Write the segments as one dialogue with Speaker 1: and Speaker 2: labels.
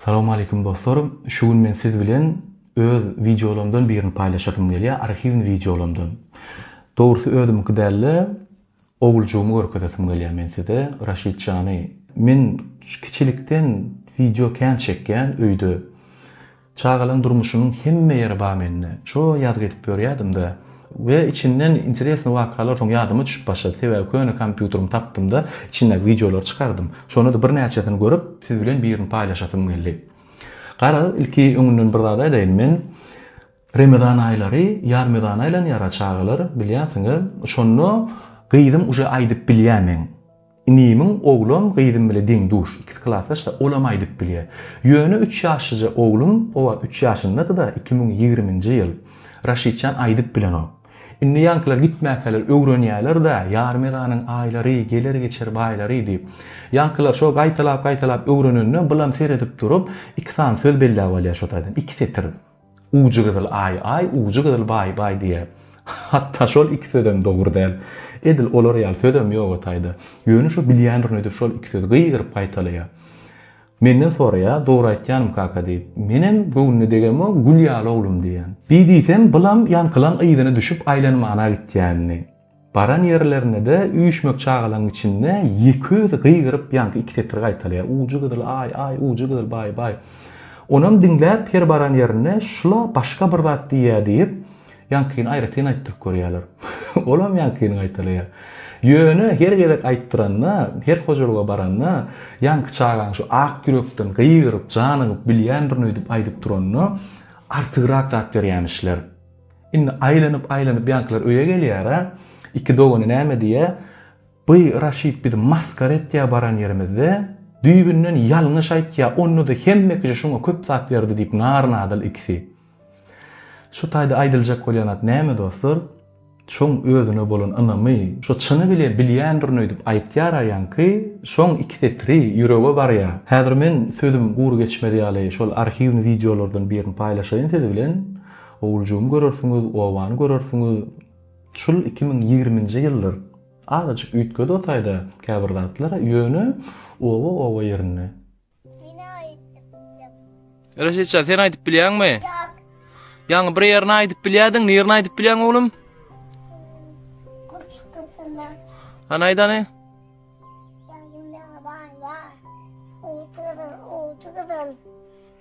Speaker 1: Salawmaleýkim dostlar! Şu gün men siz bilen öz wideolarymdan birini paýlaşasym gelýär, arhiwny wideolarymdan. Dogrusy özümiňki däl-de, oguljygymy görkezesim gelýär men size, Raşid jany. Men kiçilikden wideo kän çekýän öýde. Çagalaň durmuşynyň hemme ýeri bar mende. Şo ýazgy edip ýörýädim-de. We içinden interesnyý wakalar soň ýadyma düşüp başlady. Sebäbi köne kompýuterimi tapdym-da, içindäki wideolary çykardym. Şonda-da birnäçesini görüp, siz bilen birini paýlaşasym geldi. Gara, ilki öňünden bir zat aýdaýyn. Men Remezan aýlary ýarmezana aýlanýar-a, çagalar, bilýänsiňiz. Şonda gyzym uje aýdyp bilýär meň. Inimiň oglum gyzym bile deň duş, ikisi klasdaş-da, olam aýdyp bilýär. Ýöne üç ýaşlyja oglum, o wagt üç ýaşyndady-da, iki müň ýigriminji ýyl, Raşidjan aýdyp bilenok. Indi ýaňkylar gitmäkäler öwrenýärler-da, Ýarmyganyň aýlary, geler-geçer baýlary diýip. Ýaňkylar şo gaýtalap-gaýtalap öwrenende, bylam seredip durup, iki sany söz belläp alýar şo taýdan, iki setir. Ujy gyzyl aý aý, ujy gyzyl baý baý diýýär. Hatda şol iki sözem dogry däl. Edil olar ýaly sözem ýoga taýda. Ýöne şu bilýändirin öýdüp şol iki sözi gygyryp gaýtalaýar. Menden soraýar, dogry aýtýanym kaka diýip. Menem göwnüne degemo, gül ýaly oglum diýýän. Bi diýsem, bulam ýaňkylaň yzyna düşüp aýlanmana gitýänini. Baran ýerlerinde-de üýşmek çagalaň içinde ýekeözi gygyryp ýaňky iki setir gaýtalaýar, Ujy gyzyl, aý, aý, ujy gyzyl, baý, baý. Onam diňläp her baran ýerinde şula başga bir zat diýýä diýip, ýaňkyny aýratyn aýtdyryp görýärler. Olam ýaňkyny gaýtalaýar. Ýöne her gezek aýtdyranda, her hojalyga baranda ýaňky çagaň şu ak ýürekden gygyryp, janygyp bilýändirin öýdüp aýdyp duranda artygrak zat berýämişler. Indi aýlanyp-aýlanyp ýaňkylar öýe gelýär-ä. Iki dogany näme diýýä, By Raşit bizi masgara etýä baran ýerimizde. Düýbünden ýalňyş aýtýa, onda-da hemme kişi şuňa köp zat berdi diýip nary-nadyl ikisi. Şu taýda aýdyljak bolýan zat näme dostlar? Şoň özüne bolan ynamy, şo çyny bile bilýändirin öýdüp aýtýar-a ýaňky, şoň iki setiri ýürege barýa. Häzir men sözüm gury geçmez ýaly şol arhiwni wideolardan birini paýlaşaýyn siz bilen. Owuljygyňy görersiňiz, obany görersiňiz. Şul iki müň ýigriminji ýyldyr. Azajyk üýtgedi otaýda käbir zatlar, ýöne oba oba ýerinde. Meni aýdyp bilýäňmi?
Speaker 2: Reşitjan, sen aýdyp bilýäňmi? Ýok. Ýaňy bir ýerini aýdyp bilýärdiň, nirini aýdyp bilýäň oglum? Goşgusyny. Hany aýt hany. Ýanymda baý bar. Uçurym, uçurym.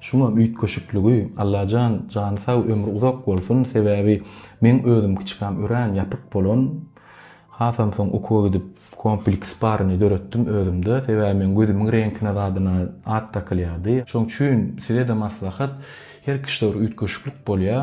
Speaker 1: Şuňa üýtgeşikligi Allajan jany sag ömri uzak bolsun sebäbi meň özüm kiçikäm örän ýapyk bolan hasam soň okuwa gidip kompleks baryny döretdim özümde sebäbi meň gözümiň reňkine zadyna at dakylýardy şoň üçin sizede maslahat her kişide bir üýtgeşiklik bolýa.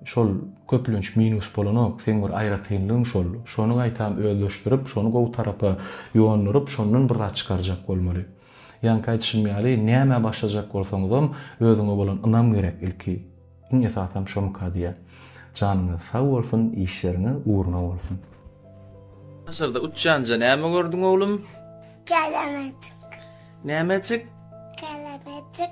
Speaker 1: Şol köplenç minus bolanok, seň bir aýratynlygyň şol. Şony gaýtam özleşdirip, şony gowy tarapa ýonduryp, şondan bir zat çykarjak bolmaly. Ýaňky aýdyşym ýaly, nämä başlajak bolsaňyzam, özüňe bolan ynam gerek ilki. Iň esasam şomyka diýýän. Janyňyz sag bolsun, işleriňiz ugruna bolsun.
Speaker 2: Daşarda uçýanja näme gördüň oglum? Gelemejik. Nämejik? Gelemejik.